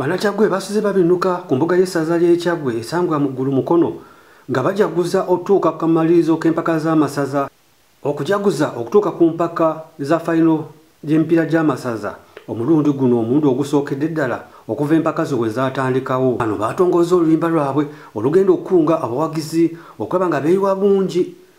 Banakyagwe basize babinuka ku mbuga y'essaza ly'ekyagwe esangwa mu ggulu mukono nga bajaguza okutuuka ku kamalirizo k'empaka z'amasaza okujaguza okutuuka ku mpaka za fayino gy'emipiira gy'amasaza omulundi guno omulundi ogusookedde ddala okuva empaka zo bwe zaatandikawo bano baatongozza oluyimba lwabwe olugenda okukunga abawagizi okulaba nga beeyiwa bungi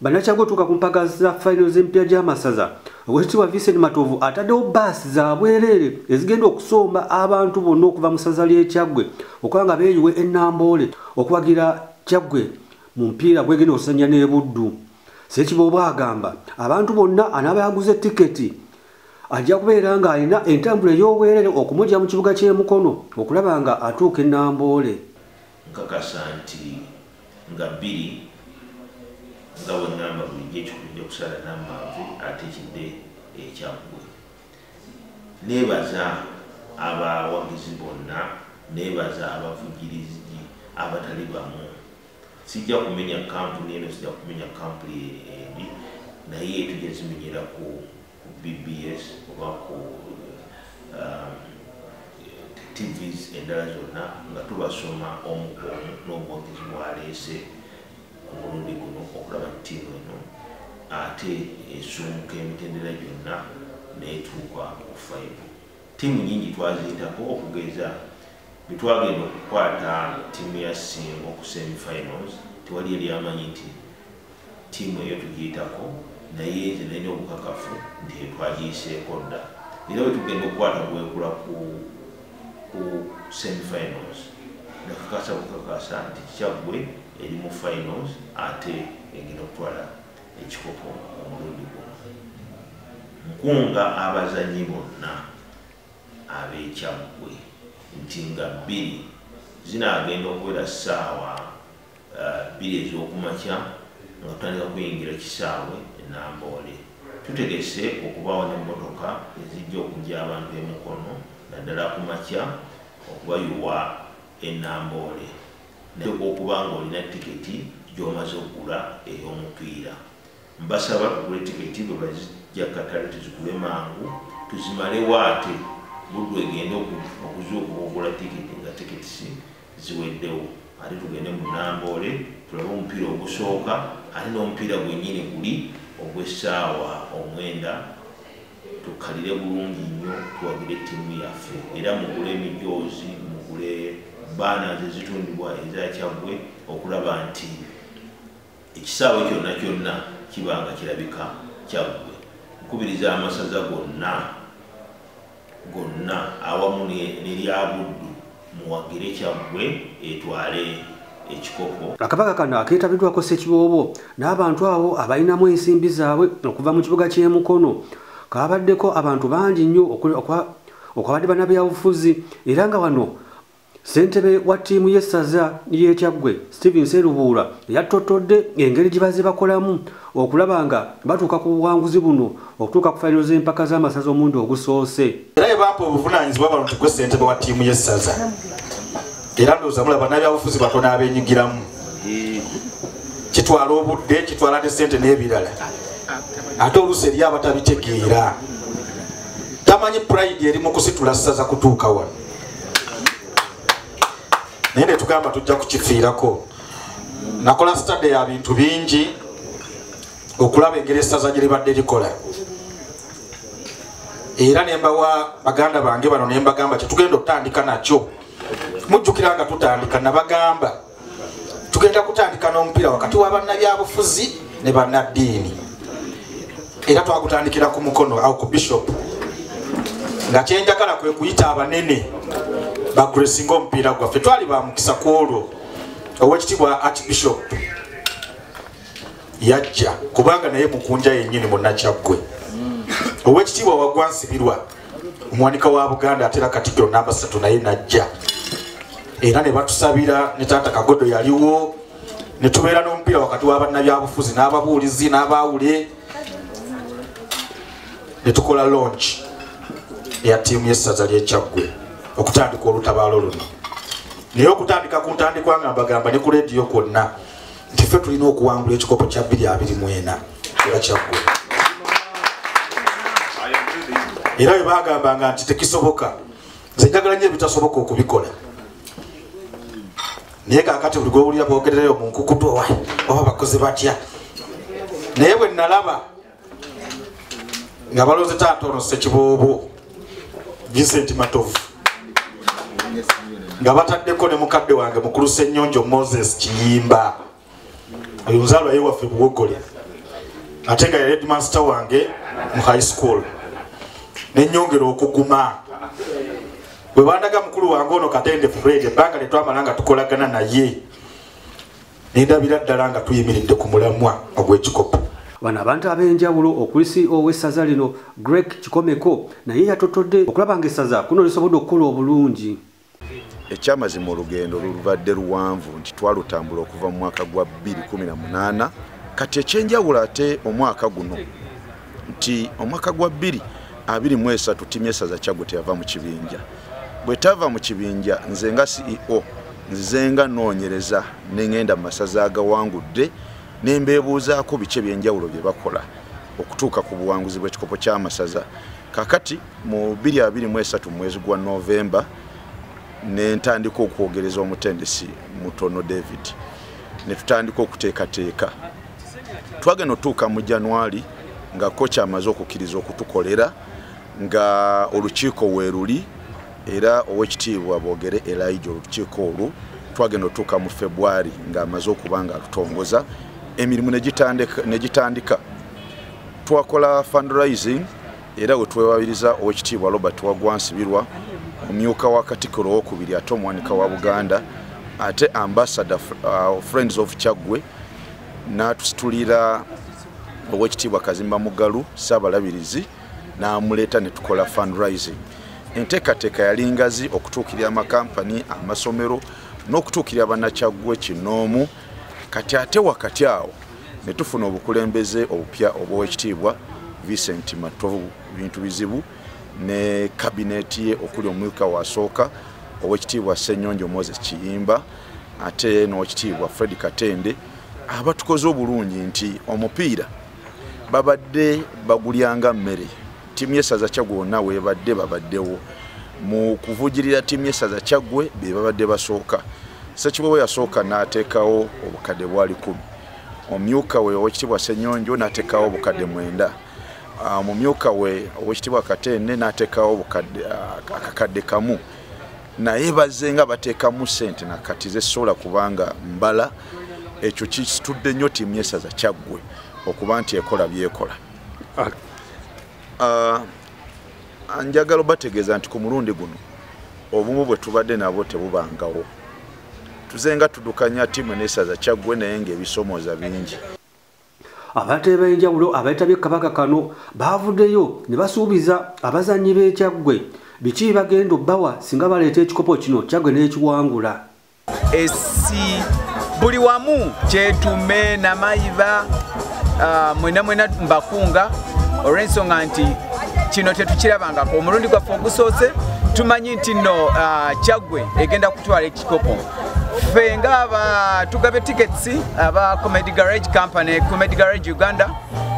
Bannakyaggwe otuuka ku mpaka za fayiro z'emipiira gy'amasaza owekitiibwa Vincent Matovu ataddewo bbaasi za bwereere ezigenda okusomba abantu bonna okuva mu ssaza ly'ekyaggwe okuba nga beeyiwe e Namboole okuwagira kyaggwe mu mpiira gwegenda okusanya n'e Buddu. Ssekiboobo agamba abantu bonna anaaba yaguze tiketi ajja kubeera ng'alina entambula ey'obwereere okumugya mu kibuga ky'e Mukono okulaba nga atuuka e Namboole. Nkakasa nti nga bbiri nga bwe ŋŋamba bulijjo ekikulu nja kusala n'ammanvu ate kidde ekyaggwe. Neebaza abawagizi bonna, neebaza abavujjirizi abatali bamu. Sijja kumenya kkampuni eno, sijja kumenya kkampuni endi naye tujja zimenyerako. ku bbs oba ku um, tvs endala zonna nga tubasoma omu ku omu n'obwogezi bwaleese ku mulundi guno okulaba ttiimu eno ate esumuka emitendera gyonna netuuka ku faibu ttiimu nyingi twaziyitako okugeza bwetwagenda okukwata ttiimu ya singo ku semifinals tewali eryamanyi nti Ttiimu eyo tugiyitako naye nze nalina obukakafu nti etwagiyiseeko dda era wetugenda okukwata gwekula ku ku semifinals nakakasa bukakasa nti kyaggwe eri mu finals ate egenda okutwala ekikopo omulundi guno nkunga abazanyi bonna abekyaggwe nti nga bbiri zinagenda okubeera ssaawa uh, bbiri ez'okumakya nga tutandika kuyingira kisaawe enamboole tutegese okubaawo n'emmotoka ezijja okujja abantu emukono naddala ku makya okubayuwa enamboole nateeka okuba nga olina tiketi gy'omaze okugula ey'omupiira mbasaba tugule tiketi bwe bazijja katale tuzigule mangu tuzimalewo ate buddu egende okuzuuka okugula tiketi nga tiketisi ziweddewo ate tugende mu namboole tulabe omupiira ogusooka ate n'omupiira gwennyini guli ogw'essaawa omwenda tukkalire bulungi nnyo tuwagire ttiimu yaffe era mugule emijoozi mugule baana zezitundibwa ezakyaggwe okulaba nti ekisaawe kyonna kyonna kiba nga kirabika kyaggwe nkubiriza amasaza gonna gonna awamu neryabuddu muwagire kyaggwe etwale ekikopo akabaka kano aketabidwako sekiboobo n'abantu awo abalinamu ensimbi zaabwe okuva mu kibuga ky'emukono kabaddeko abantu bangi nnyo okwabadde banabyabufuzi era nga wano Ssentebe wa ttiimu y'essaza ly'e Kyaggwe, Stephen Serubuula yattottodde engeri gye bazze bakolamu okulaba nga batuuka ku buwanguzi buno okutuuka ku fayiro z'empaka z'amasaza omulundi ogusoose. Era bye bampa obuvunaanyizibwa bano nti gwe ssentebe wa ttiimu y'essaza era ndowooza mulaba bannabyabufuzi batono abenyigiramu kitwala obudde kitwala ne ssente n'ebirala ate oluusi eri abatabitegeera tamanyi purayidi eri mu kusitula ssaza kutuuka wano naye netugamba tujja kukifiirako nakola sitade ya bintu bingi okulaba engeri essaza gye libadde likola era nembawa baganda bange bano nembagamba kyetugenda okutandika nakyo mujjukira nga tutandika nabagamba tugenda kutandika n'omupiira wakati wa bannabyabufuzi ne bannaddiini era twakutandikira ku mukono awo ku bishop nga kyenjagala kwe kuyita abanene bagresinga omupiira gwaffe twali bamukisa ku olwo owekitibwa archbishop yajja kubanga naye mukunja yennyini munnakyaggwe owekitiibwa wagwa nsibirwa omuwanika wa buganda atera katikiro namba satu naye najja era ne batusabira ne taata kagodo yaliwo ne tubeera n'omupiira wakati wa bannabyabufuzi n'ababuulizi n'abaawule ne tukola longi eya ttiimu y'essaza ly'ekyaggwe okutandika olutabaalo luno naye okutandika ku ntandikwa nga mbagamba ne ku leediyo kwonna nti ffe tulina okuwangula ekikopo kya 224 nga kyaggwe era bwe bagambanga nti tekisoboka nze njagala nyo ebitasoboka okubikola naye kakati buli gwewulira bogerereyo munkukutu owa oba bakozi batya naye bwe nalaba nga baloze taata ono sekiboobo vincent matovu nga bataddeko ne mukadde wange mukulu senyonjo moses kiyimba oyo nzalwa ye waffe buwogole ate nga yaredmaster wange mu high school nenyongera okuguma bwebandaga mukulu wange ono katende fred ebbanga lyetwamala nga tukolagana naye nendabira ddala nga tuyimiridde ku mulamwa ogw'ekikopo bano abantu ab'enjawulo okuli ceo w'essaza lino greg kikomeko naye yatotodde okulaba nga essaza kuno lisobodde okukola obulungi ekyamazima olugendo lulubadde luwanvu nti twalutambula okuva mu mwaka gwa 218 kati ekyenjawulo ate omwaka guno nti omwaka gwa bbiri abiri mu esatu ttiimu y'essaza kyaggo teyava mu kibinja bwe tava mu kibinja nze nga ceo nzize nga noonyereza ne ŋenda mu masaza agawangudde ne mbeebuuzaako biki ebyenjawulo bye bakola okutuuka ku buwanguzi bw'ekikopo ky'amasaza kakati mu 223 mu mwezi gwa novemba ne ntandika okwogereza omutendesi mutono david ne tutandika okuteekateeka twagenda otuuka mu januari nga koki amaze okukkiriza okutukolera nga olukiiko weeruli era owekitiibwa bogere elija olukiiko olwo twagenda otuuka mu februari ngaamaze okuba nga atutongoza emirimu negitandika twakola fundraising era we twewabiriza owekitiibwa robert wagwa nsibirwa omumyuka wa katikiro owokubiri ate omuwanika wa buganda ate ambasada uh, friends of kyaggwe n'atusitulira owekitiibwa kazimba mugalu saabalabirizi n'amuleeta ne tukola fundraising enteekateeka yali ngazi okutuukirira amakampani amasomero n'okutuukirira bannakyaggwe kinoomu kati ate wakati awo ne tufuna obukulembeze obupya obw'ekitiibwa Vincent Matovu bintu bizibu ne kabineeti ye okuli omumyuka wasooka owekitiibwa Ssenyonjo Moses Kiyimba ate n'owekitiibwa Fred Katende abatukoze obulungi nti omupiira babadde bagulyanga mmere Tiimu y'essaza Kyaggwe wonna weebadde babaddewo mu kuvujirira tiimu y'essaza Kyaggwe be babadde basooka. Ssekiboobo yasooka n'ateekawo obukadde bwali kumi. Omumyuka we Oweekitiibwa Ssenyonjo n'ateekawo obukadde mwenda. Ah, Omumyuka we Oweekitiibwa Katende n'ateekawo ah, akakadde kamu. Naye bazze nga bateekamu ssente na kati zesobola kubanga mbala ekyo kitudde nnyo tiimu y'essaza Kyaggwe okuba nti ekola byekola. ah, ah, njagala obategeeza nti ku mulundi guno obumu bwe tubadde nabwo tebubangawo tuze nga tudukanya tiimu nesaza kyaggwe naye ngaebisomooza bingi abatale b'enjawulo abeetabye kabaka kano baavuddeyo ne basuubiza abazannyi b'ekyaggwe biki bagenda obbawa singa baleeta ekikopo kino kyaggwe n'ekiwangula esi buli wamu kyetume namayiba ah, mwena mwena mbakunga olw'ensonga nti kino tetukirabangako omulundi gwaffe ogusoose tumanyi nti nno ah, kyaggwe egenda kutwala ekikopo ffe nga aba tugabe tickets aba comedy garage company comedy garage uganda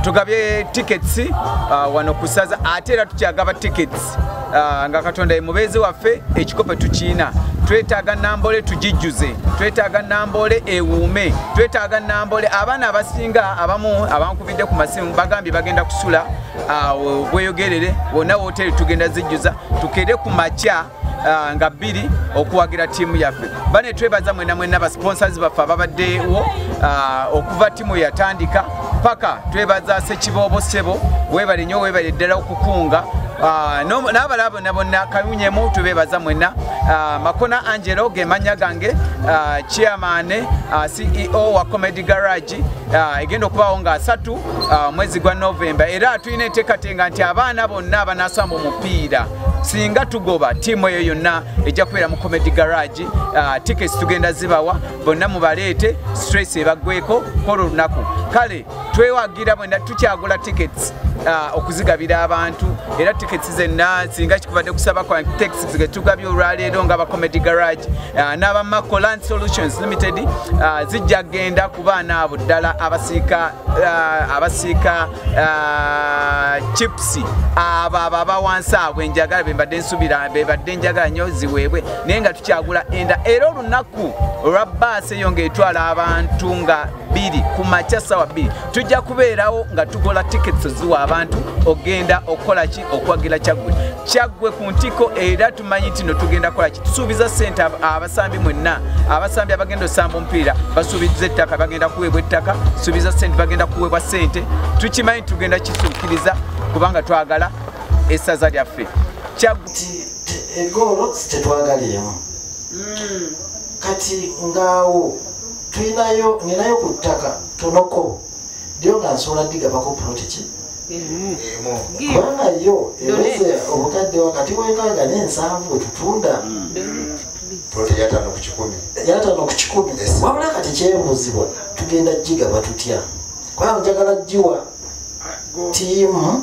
tugabye tickets uh, wano kusaza ate era tukyagaba tickets uh, nga katonda yemubeezi waffe ekikope tukiina twetaaga nambole tugijjuze twetaaga nambole ewuume twetaaga nambole abaana abasinga abamu abankubidde ku masimu bagambye bagenda kusula uh, bweyogerere wonna woteri tugenda zijjuza tukere ku makya uh, nga bbiri okuwagira tiimu yaffe bane twebaza mwena mwena basponsors baffe ababaddewo uh, okuva tiimu yatandika paka twebaza sekiboobo sebo webale nyo webale ddala okukunga Ah, n'abalala bonna bonna kawunyemu tubeebaza mwenna ah, makona angelo gemanya gange ah, chairman ceo wa comedy garage egenda okubaawo nga asatu mwezi gwa novemba era tulina enteekatenga nti abaana bonna abanasamba omupiira singa tugoba tiimu eyo yonna ejja kubeera mu comedy garage uh, tickets tugenda zibawa bonna mubaleete stress ebaggweko kola olunaku kale twewagira bwenda tukyagula tickets uh, okuzigabira abantu era tickets zenna singa kikubadde kusaba kwa taxis getugabye olwaleero nga ba comedy garage uh, n'aba maco land solutions limited uh, zijja kugenda ku baana abo ddala abasiika uh, abasiika Ah, chips abo abo abawansi abo enjagala bembadde nsubira bebadde enjagala nyo ziweebwe naye nga tukyagula enda era olunaku olwa baasi eyo ngaetwala abantu nga bbiri ku makya sawa bbiri tujja kubeerawo nga tugola tickets ziwa abantu ogenda okukola ki okwagira kyaggwe kyaggwe ku ntiko era tumanyi nti no tugenda kola ki tusuubiza sente abasambi mwenna abasambi abagenda osamba omupiira basuubiza ettaka bagenda kuweebwa ettaka suubiza sente bagenda kuweebwa sente tukimanyi tugenda kisuukiriza kubanga twagala essaza lyaffe egoolo tetwagaliimu hmm. kati ngaawo tulinayo ninayo ku ttaka tonoko dyo nga nsobola digabako pulotiki kubanga yo eweze obukadde wakati wekaaga n'ensanvu wetutunda yatano ku kikumi yatano ku kikumi wabula kati kyebuuzibwa tugenda gigaba tutya kubanga njagala giwa tiimu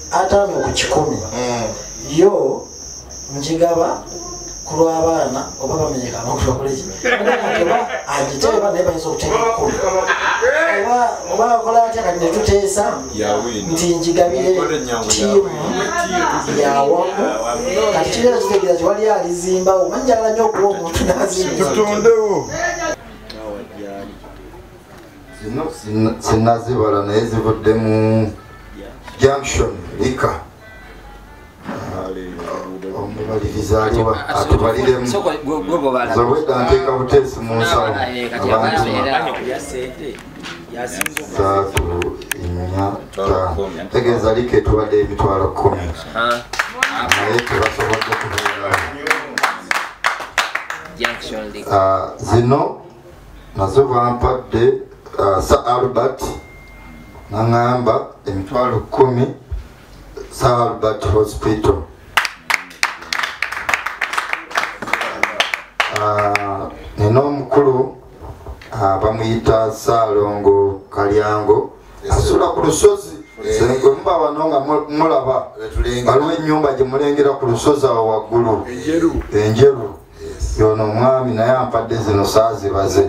ataano ku kikumi mm. yo njigaba ku lw'abaana oba bamenyeka amakulu bakoleki oba agiteba naye bayinza okuteeka ekkumi oba akola atya kati netuteesa nti njigabire tiimu yawamu kati kibeera kitegeeza ti wali alizimba omanyi njagala nyo okuwa omuntu nazimba zino sinazibala naye zivudde mu junction lika omubaliriza aliwa atubaliremu zobwedda nteeka buteesi mu nsawo abantu saatu nnya taano tegeeza lika etubadde emitwalo kumi naye tebasobodde kubeerawo ah, zino nazo bampadde uh, sa albert naŋamba emitwalo kumi sa albert hospital uh, nina omukulu uh, bamuyita saalongo kalyango asula ku lusozi senga omuba wano nga mulaba waliwo enyumba gyemulengera ku lusozi awo waggulu enjeru yono omwami naye ampadde zino saazibaze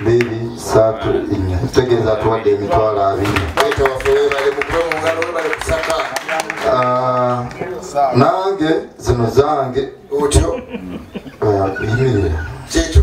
biri satu nya tegeeza atuwadde emitwalo abiri ah, nange zino zange otyo ah, yimirira kyekyo